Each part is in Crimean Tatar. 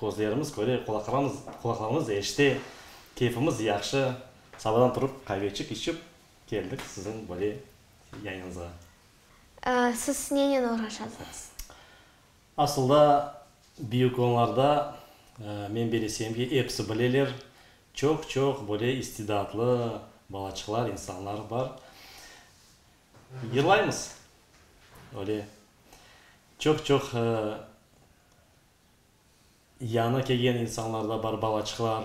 Közlerimiz köre, qulaqlarımız qulaqlarımız eşite, keyfimiz yahşı. Sabırdan turıp, qaveçik içip keldik siziñ böyle yayınıñızğa. Siz nenen uğraşasıñız? Asılda, büyük onlarda, men böyle isem ki, episi bileler, çoq-çoq böyle istidatlı balaçıqlar, insanlar bar. Yırlaymız, öyle çoq-çoq Yañı kelgen insanlar da bar, balaçıqlar.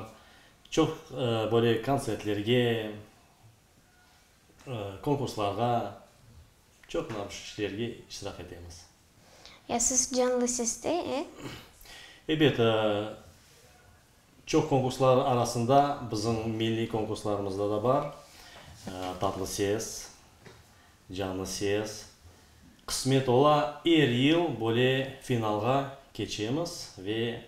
Çoq böyle kontsertlerge, konkurslarğa, çoq mına bu işlerge iştirak etemiz. Ya siz canlı seste, e? Ebet, Çoq konkurslar arasında bizim milliy konkurslarımızda da bar, Tatlı ses, Canlı ses. Qısmet ola, er yıl böyle finalğa keçemiz ve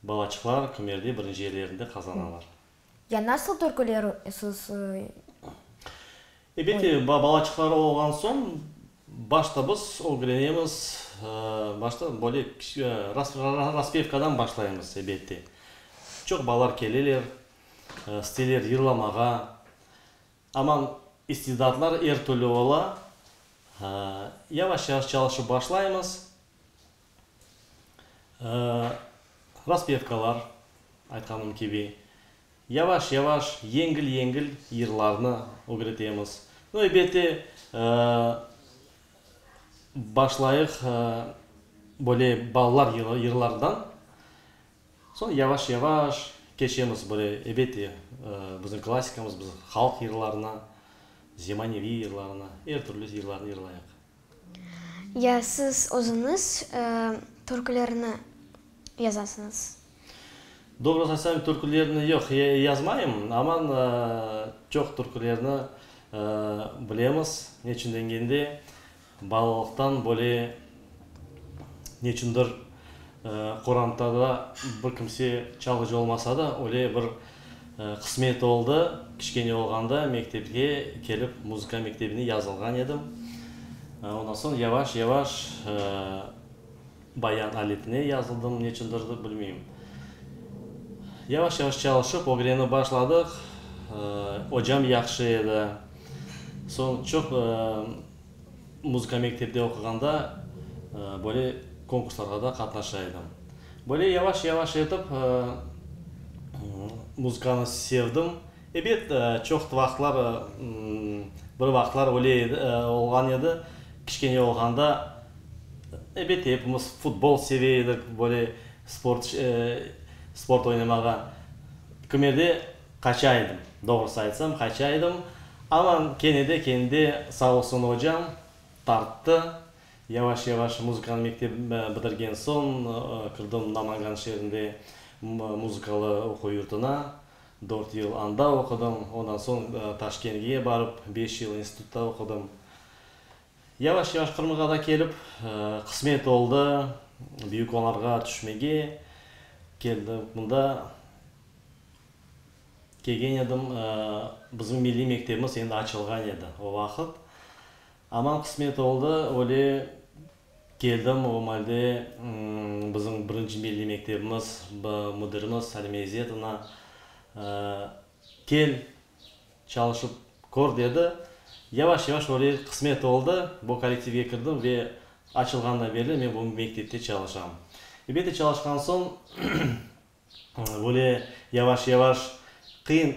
balaçıqlar kümerde birinci yerlerinde qazanalar. Ya nasıl törkülersiz? Ebette, balaçıqları olğan soñ, başta biz ögrenemiz, başta böyle raspevkadan başlaymız, ebette. Çoq balalar keleler, isteler yırlamağa. Amma istidatlar er türlü ola. Yavaş-yavaş çalışıp başlaymız. Raspetkalar, aytqanım kibi, yavaş-yavaş, yengil-yengil yırlarnı ögretemiz. No, elbette, başlayıq böyle balalar yırlarından, soñ yavaş-yavaş keçemiz böyle, elbette, bizim klassikamız, bizim halq yırlarına, zemaneviy yırlarına, er türlü yırlarnı yırlayıq. Ya siz özüniz türkülerni yazasıñız? Doğru qaysam, türkülerni yoq, yazmayım. Amma çoq türkülerni bilemiz. Neçün degende, balalıqtan böyle neçündir qorantada bir kimse çalğıcı olmasa da, öyle bir Qısmet oldı, kiçkene olğanda mektepke kelip muzıka mektebine yazılğan edim. Ondan soñ yavaş-yavaş bayan alifine yazıldım, neçündir bilmeyim. Yavaş-yavaş çalışıp, ögrenip başladıq. Ocam yahşı edi. Soñ çoq. Muzıka mektepte oquğanda böyle konkurslarğa da qatnaşa edim. Böyle yavaş-yavaş etip muzıkanı sevdim. Ebet, çoq vaqıtlar, bir vaqıtlar öyle edi, olğan edi, kiçkene olğanda, ebet, epimiz futbol seve edik, böyle sport, sport oynamağa. Kümerde. Qaça edim, doğrusı aytsam, qaça edim, amma kene de, kene de, sağ olsun ocam, tarttı. Yavaş-yavaş muzıkanı mektep bitirgen soñ kirdim Namangan şeerinde muzıkalı oquv yurtuna. Dört yıl anda oqudım, ondan soñ Taşkentge barıp, beş yıl institutta oqudım. Yavaş-yavaş Qırımğa da kelip, qısmet oldı, büyük onarğa tüşmege keldim. Mında kelgen edim, bizim milliy mektebimiz endi açılğan edi o vaqıt. Aman qısmet oldı, öyle keldim, o malde bizim birinci milliy mektebimiz müdirimiz Salime İzzetovna, Kel, Çalışıp kör, dedi. Yavaş-yavaş öyle qısmet oldı. Bu kollektivge kirdim ve açılğandan berli men bu mektepte çalışam. Elbette, çalışqan soñ böyle yavaş-yavaş qıyın,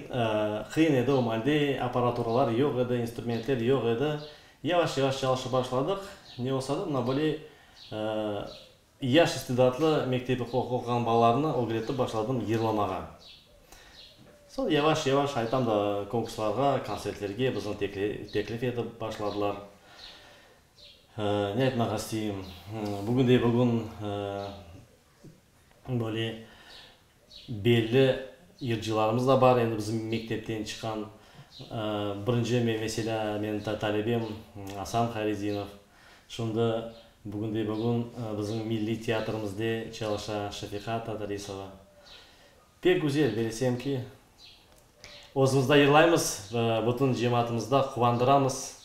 qıyın edi, o malde apparaturalar yoq edi, instrumentler yoq edi. Yavaş-yavaş çalışıp başladıq. Ne olsa da, mına böyle Yaş istidatlı mektebi quruq oquğan balalarnı ögretip başladım yırlamağa. Soñ yavaş-yavaş aytam da konkurslarğa, kontsertlerge bizni teklif etip başladılar. Ne aytmaq isteyim, bugünde-bugün böyle. Belli yırcılarımız da bar, endi bizim mektepten çıqqan birinci, meselâ, menim talebem Asan Hayretdinov, şimdi bugünde-bugün bizim milliy teatrımızde çalışa Şefiqa Tadrisova. Pek güzel, belesem ki, Özümizde yırlaymız, bütün cemaatımızda quvandıramız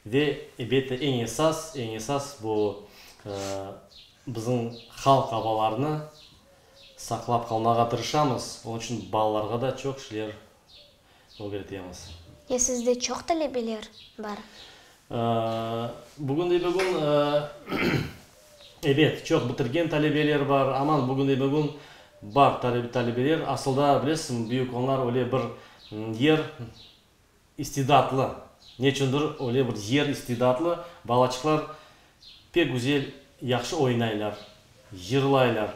ve, elbette, eñ esas, eñ esas bu bizim halq avalarını saqlap qalmağa tırışamız. Onıñ içün balalarğa da çoq şeyler ögretemiz. Ya sizde çoq talebeler bar? Bugün de bir gün Ebet, çoq bitirgen talebeler bar, aman bugünde-bugün bar talebeler. Asılda, bilesizmi, büyük onlar öyle bir yer istidatlı, neçündir öyle bir yer istidatlı, balaçıqlar pek güzel, yahşı oynaylar, yırlaylar.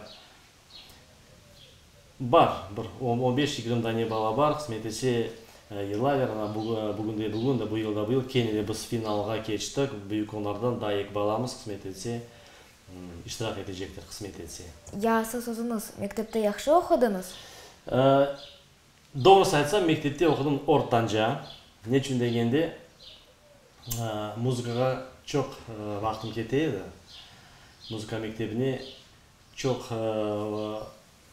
Bar, bir on, on beş, yigrim dane bala bar, qısmet etse, yılaver. Ana, bu, bugün de bugün, da bu yıl da bu yıl kene de biz finalğa keçtik. Büyük onlardan da eki balamız, qısmet etse, iştirak etecektir, qısmet etse. Ya siz özüniz mektepte yahşı oqudıñız? Doğrusı aytsam, mektepte oqudım ortanca. Neçün degende, muzıkağa çoq vaqtım kete edi. Muzıka mektebine Çoq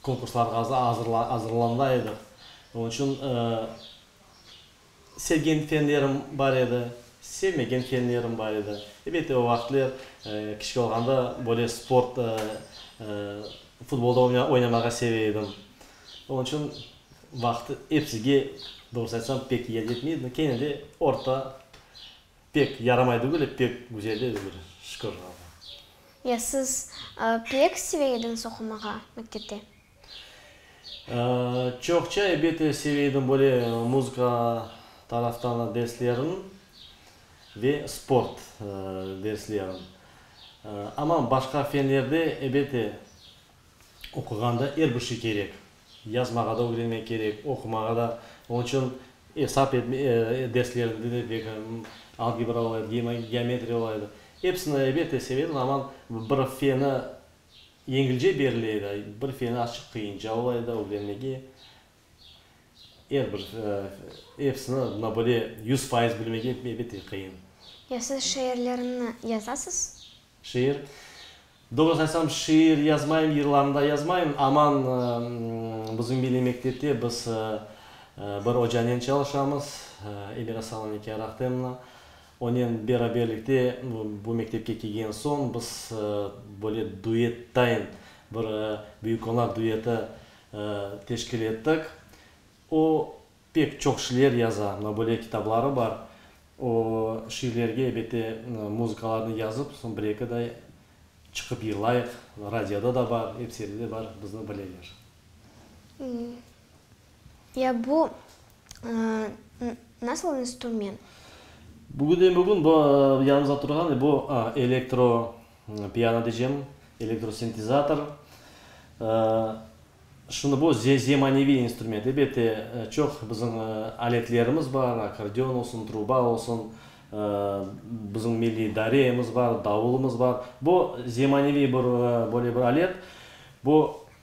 konkurslarğa azırlana edik. Onıñ içün sevgen fenlerim bar edi, sevmegen fenlerim bar edi. Elbette, o vaqıtlar kiçik olğanda böyle sport, futbolda oynamağa seve edim. Onıñ içün vaqıt episiga, doğrusını aytsam, pek yetmey edi. Kene de orta. Pek yaramay degil e, pek güzel edi böyle, şükür Allahu. Ya siz pek seve ediñiz oqumağa mektepte? Çoqça ebete seve edim böyle muzıka taraftan derslerin ve sport derslerin. Ama başqa fenlerde ebete Oquğanda er bir şey kerek. Yazmağa da ögrenmek kerek, oqumağa da. Onıñ içün esap derslerinde de bek algebra olaydı, geometriya olaydı. Episini elbette sevedim, amma bir feni yeñilce berile edi, bir feni açıq qıyınca olaydı ögrenmege. Er bir, episini mına böyle yüz fayız bilmek ebette qıyın. Ya siz şiirlerinni yazasız? Şiir? Doğrusını aytsam, şiir yazmayım, yırlarında yazmayım. Aman bizim milliy mektepte biz bir ocanen çalışamız, Emir Asan Anike Rahtemna. Onen beraberlikte bu mektepke kelgen soñ biz böyle duet tayin bir büyük qonar dueti teşkil ettik. O, pek çoq şiir yaza, mına böyle kitabları bar. O, şiirlerge, ebette, muzıkalarnı yazıp, soñ bir-eki de çıqıp yırlayıq, radioda da bar, ep serde de bar, bizni bileler. Ya bu nasıl instrument? Bugünden-bugün bu, yanımızda turğan, bu elektro Piano diycem, elektrosintezator. Şimdi bu zemaneviy instrument. Elbette, çoq bizim aletlerimiz bar, akkordeon olsun, truba olsun, bizim milliy dareyemiz bar, davulımız bar. Bu zemaneviy bir, böyle bir alet. Bu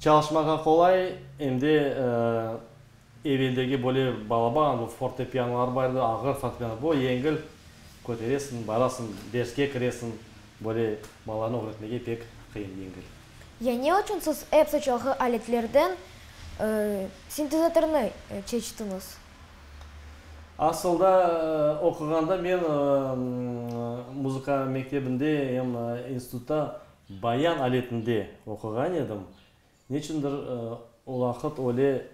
Çalışmağa qolay, em de eveldeki böyle balaban, bu fortepianolar bar edi, ağır fortepiano, bu yengil, köteresiñ, barasıñ, derske kiresiñ, böyle balalarnı ögretmege pek qıyın, yengil. Ya ne içün siz epsi çoqu aletlerden sintezatornı çeçtiñiz? Asılda, oquğanda men muzıka mektebinde em institutta Bayan aletinde oquğan edim. Neçündir o vaqıt öyle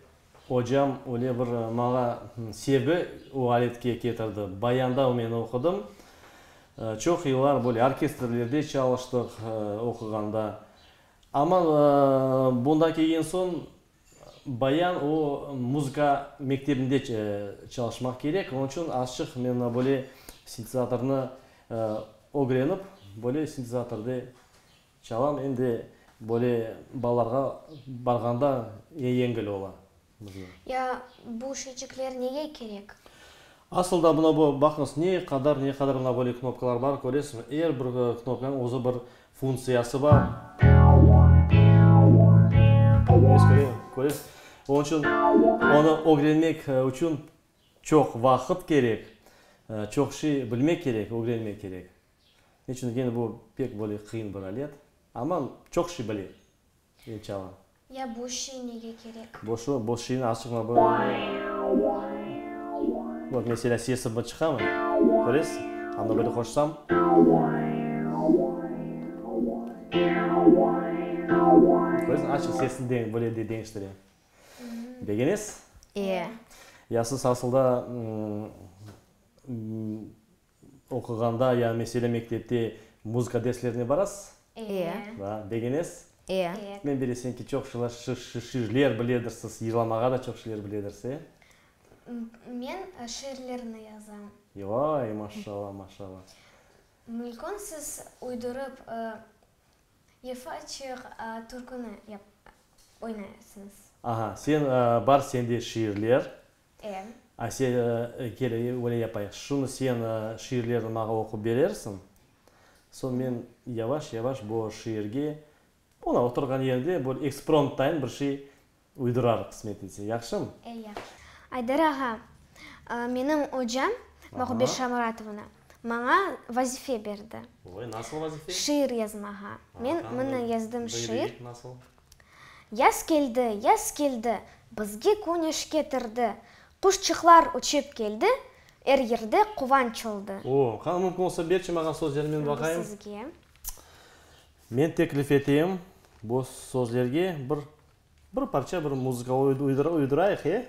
ocam öyle bir maña sevgi o aletke ketirdi. Bayanda men oqudım. Çoq yıllar böyle orkestrlerde çalıştıq oquğanda. Amma bunda kelgen soñ Bayan o muzıka mektebinde çalışmaq kerek, onıñ içün azçıq men mına böyle sintezatornı ögrenip, böyle sintezatorda çalam, endi böyle balalarğa barğanda yengil ola. Ya bu şeycikler nege kerek? Asıl da mına bu, baqıñız, ne qadar, ne qadar mına böyle knopkalar bar, köresiñizmi? Er bir knopkanıñ özü bir funtsiyası bar. Körez? Onıñ içün onı ögrenmek içün çoq vaqıt kerek, çoq şey bilmek kerek, ögrenmek kerek. Neçün degende, bu pek böyle qıyın bir alet. Amma çoq şey bile. Ne çala? Ya boş şey nege kerek? Boş o, boş şeyni açıq Bak, meselâ, sesi mı çıqamı? Köresiz? A mına böyle qoşsam. Köresiz, açıq sesni deñ, böyle de deñiştire. Begenesiz? Ee. Ya siz asılda, ımm, Oquğanda ya mesele mektepte muzıka derslerine barasız? Eee. Da, begenesiz? Eee. Men bilesem ki, çoq şılar şiirler biledirsiz, yırlamağa da çoq şiirler biledirsiz, e? Men şiirlerni yazam. Yoy, maşşalla, maşşalla. Mülkün siz uydurıp Yıfa çıg türküni oynayasıñız. Aha, sen, bar sende şiirler. Em. Asiye, kele, öyle yapayıq, şunı sen şiirlerini maña oqup berersiñ, soñ men yavaş-yavaş bu şiirge, ona oturğan yerde böyle ekspromptayın bir şey uydurarıq, qısmet etse. Yahşımı? E, yahşı. Aydar ağa, menim ocam Maqubet Şamuratovna maña vazife berdi. Oy, nasıl vazife? Şiir yazmağa. Men mına yazdım şiir. Aha, buyur, ey, nasıl? Yaz keldi, yaz keldi, Bizge küneş ketirdi, Quşçıqlar uçıp keldi, Er yerde quvanç oldı. O, qani mümkün olsa berçi maña sözlerini men baqayım. Bu sizge. Men teklif eteyim, bu sözlerge bir bir parça bir muzıka uydurayıq, e?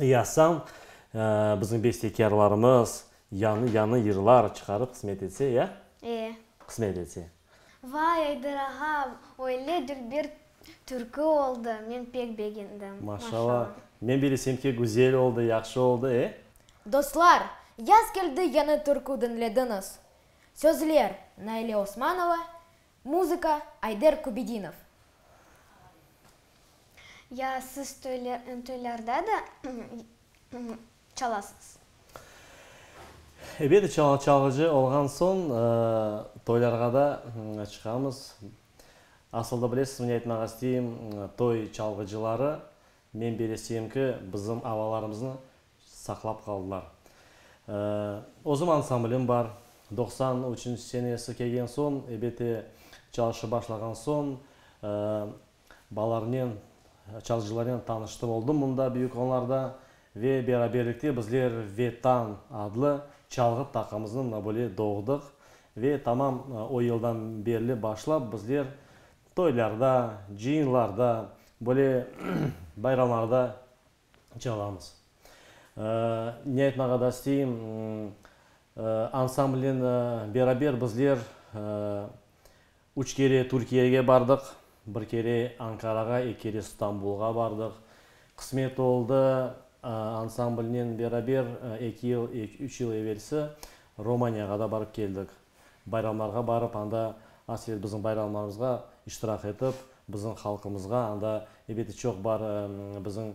yasam, bizim bestekârlarımız yanı yanı yırlar çıqarıp qısmet etse, ya? E. Qısmet etse. Vay, Ayder ağa, öyle dülber türkü oldı, men pek begendim. Maşalla. Men bilesem ki, güzel oldı, yahşı oldı, e? Dostlar, yaz keldi yanı türkü diñlediñiz. Sözler, Naile Osmanova, Muzıka, Ayder Kubedinov. Ya siz toylarda da çalasıñız? Ebet, çalğıcı olğan soñ toylarğa da çıqamız. Asılda bilesizmi ne aytmaq isteyim, toy çalğıcıları, men beleseyim ki, bizim avalarımıznı saqlap qaldılar. Özüm ansamblim bar. Doqsan üçünci senesi kelgen soñ, ebete çalışıp başlağan soñ, balarnen, çalıcılarnen tanıştım oldım mında, büyük onlarda. Ve beraberlikte bizler Vetan adlı çalğı taqımıznıñ nabıli doğdıq. Ve tamam o yıldan berli başlap bizler toylarda, cıyınlarda, böyle bayramlarda çalamız. Ne aytmağa da isteyim, ansamblnen beraber bizler üç kere Türkiyege bardıq, bir kere Ankarağa, eki kere Stambulğa bardıq. Qısmet oldı, ansamblnen beraber eki yıl, üç yıl evelsi Romaniyağa da barıp keldik. Bayramlarğa barıp, anda asvet bizim bayramlarımızğa iştirak etip, bizim halqımızğa, anda ebeti çoq bar bizim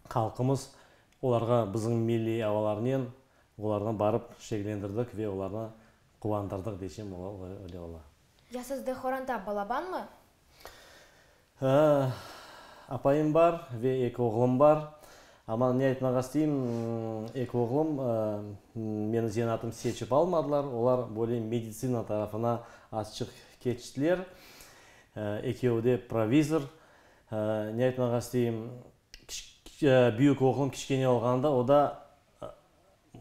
halqımız, olarğa bizim milliy avalarnen olarnı barıp şeklendirdik ve olarnı quvandırdık deysem ola, öyle ola. Ya sizde horanta balabanmı? Hıı, apayım bar ve eki oğlum bar. Amma ne aytmağa isteyim, eki oğlum meniñ zanaatıñ seçip almadılar, olar böyle meditsina tarafına azçıq keçtiler. Ekevi de provizor. Ne aytmağa isteyim, büyük oğlum kiçkene olğanda o da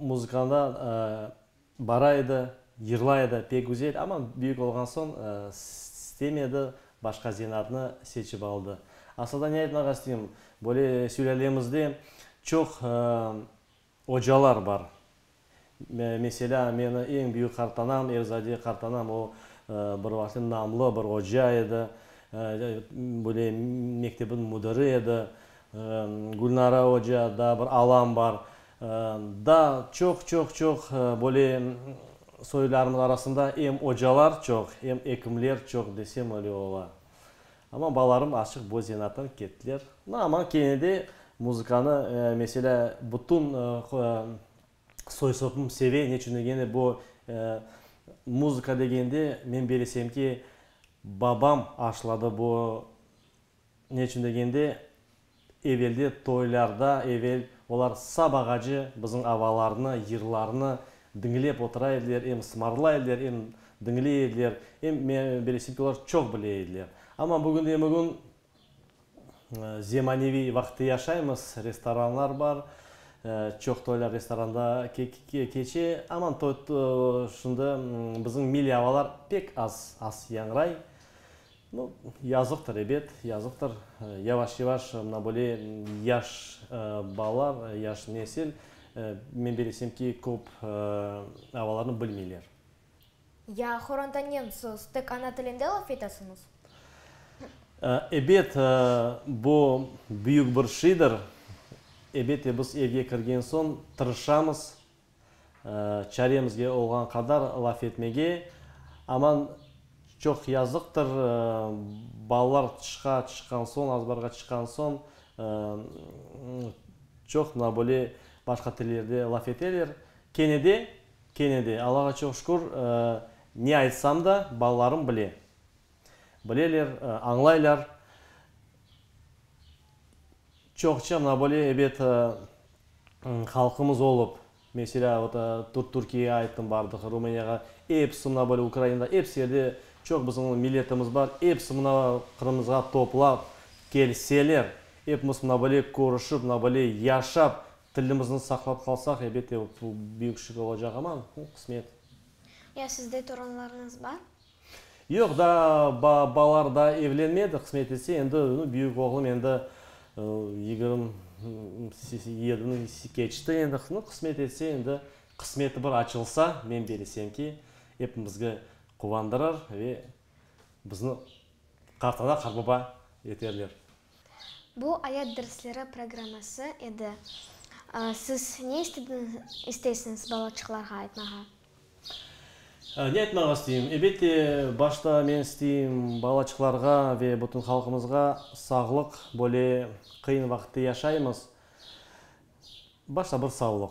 muzıkada Bara edi, yırlay edi, pek güzel, amma büyük olğan soñ stemedi, başqa zenatnı seçip aldı. Aslında ne aytmağa isteyim, böyle sülâlemizde çoq ocalar bar. Meselâ, meni eñ büyük qartanam, Erzade qartanam, o, bir vaqıtlar namlı bir oca edi, böyle mektebin müdiri edi. Gülnara oca, daa bir alam bar. Da çoq, çoq, çoq böyle soylarımız arasında em ocalar çoq, em ekimler çoq desem öyle ola. Amma balalarım açıq bu zenaattan kettiler. No amma kene de muzıkanı, meselâ, bütün soy-sopum seve, neçün degende bu muzıka degende men belesem ki, babam aşladı bu. Ne içün degende, evelde, toylarda evel olar sap ağacı, bizim avalarnı, yırlarnı diñlep otura ediler, em sımarla ediler, em diñley ediler, em beresiyki olar çoq bile ediler. Amma bugünde-bugün zemaneviy vaqıtta yaşaymız, restoranlar bar, çoq toylar restoranda keçe, amma şimdi bizim milliy avalar pek az, az yañray. No, yazıqtır, ebet, yazıqtır. Yavaş-yavaş mına böyle yaş balalar, yaş nesil, men bilesem ki, köp avalarnı bilmeyler. Ya horontanen siz tek ana tilinde laf etesiñiz? Ebet, bu büyük bir şeydir. Ebet de biz evge kirgen soñ tırışamız, Çaremizge olğan qadar laf etmege, aman çoq yazıqtır, balalar tışqa çıqqan soñ, azbarğa çıqqan soñ çoq mına böyle başqa tillerde laf eteler. Kene de, kene de Allağa çoq şükür, ne aytsam da balalarım bile. Bileler, añlaylar. Çoq Çernobıliy ebet halqımız olıp, meselâ, ot, Türkiye'ye ayttım bardıq, Rumıniyağa, episi Çernobıl, Ukraina, episi yerde çoq bizim milletimiz bar, episi mına Qırımımızğa toplap kelseler, epimiz mına böyle körüşip, mına böyle yaşap, tilimizni saqlap qalsaq, ebet de büyük şükür olacaq, amma, qısmet. Ya sizde torunlarıñız bar? Yoq, daa ba balar da evlenmedi, qısmet etse, endi nu büyük oğlum endi yigirm yedini keçti, endi nu qısmet etse, endi qısmeti bir açılsa, men belesem ki, epimizge quvandırır ve bizni qartana qarbaba eterler. Bu ayat dersleri programması edi. Siz ne istediniz istesiñiz balaçıqlarğa aytmağa? Ne etmege isteyim? Ebette, başta men isteyim, balaçıqlarğa ve bütün halqımızğa sağlıq, böyle qıyın vaqıtta yaşaymız, başta bir sağlıq.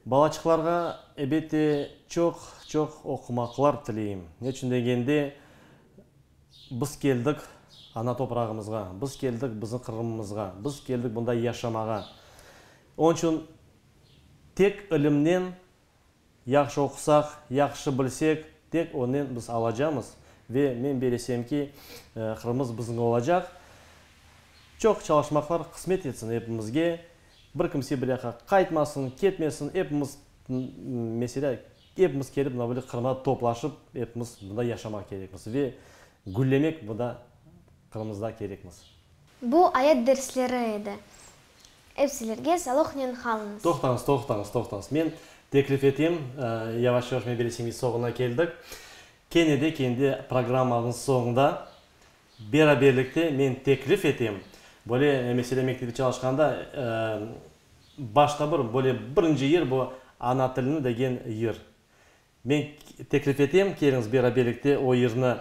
Balaçıqlarğa, ebette, çoq, çoq oqumaqlar tileyim. Ne içün degende, biz keldik ana toprağımızğa, biz keldik bizim Qırımımızğa, biz keldik bunda yaşamağa. Onıñ içün tek ilimnen, Yahşı oqusaq, yahşı bilsek, tek onnen biz alacamız ve men bir esem ki, Qırımımız biziñ olacaq. Çoq çalışmaqlar qısmet etsin epimizge. Bir kimse bir yaqqa qaytmasın, ketmesin, epimiz, meselâ, epimiz kelip mına böyle Qırımda toplaşıp, epimiz mında yaşamaq kerekmiz ve güllemek mında Qırımımızda kerekmiz. Bu ayat dersleri edi. Epsilerge saloqnen qalınız. Toqtañız, toqtañız, toqtañız. Men teklif etem, yavaş-yavaş meberesimiz soñuna keldik. Kene de kendi programmañız soñunda beraberlikte men teklif etem, böyle, mesele mektepte çalışqanda başta bir, böyle, birinci yer bu, ana tilini degen yer. Men teklif etem, keliñiz beraberlikte o yırnı,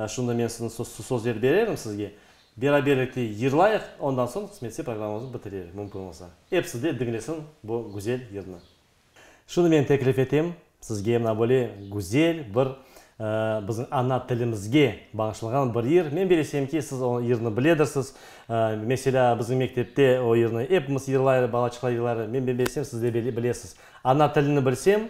şunda men sizni sözler bererim sizge, beraberlikte yırlayıq, ondan soñ qısmetse programmamıznı bitirerik, mümkün olsa. Episi de diñlesin bu güzel yırnı. Şunda men teklif etem, sizge mına böyle güzel bir biziñ ana tilimizge bağışlanğan bir yır, men bilesem ki, siz o yırnı biledirsiz, meselâ, biziñ mektepte o yırnı epimiz yırlayrı, balaçıqlar yırlayrı, men bilesem siz de bilesiz. Ana tilini bilsem.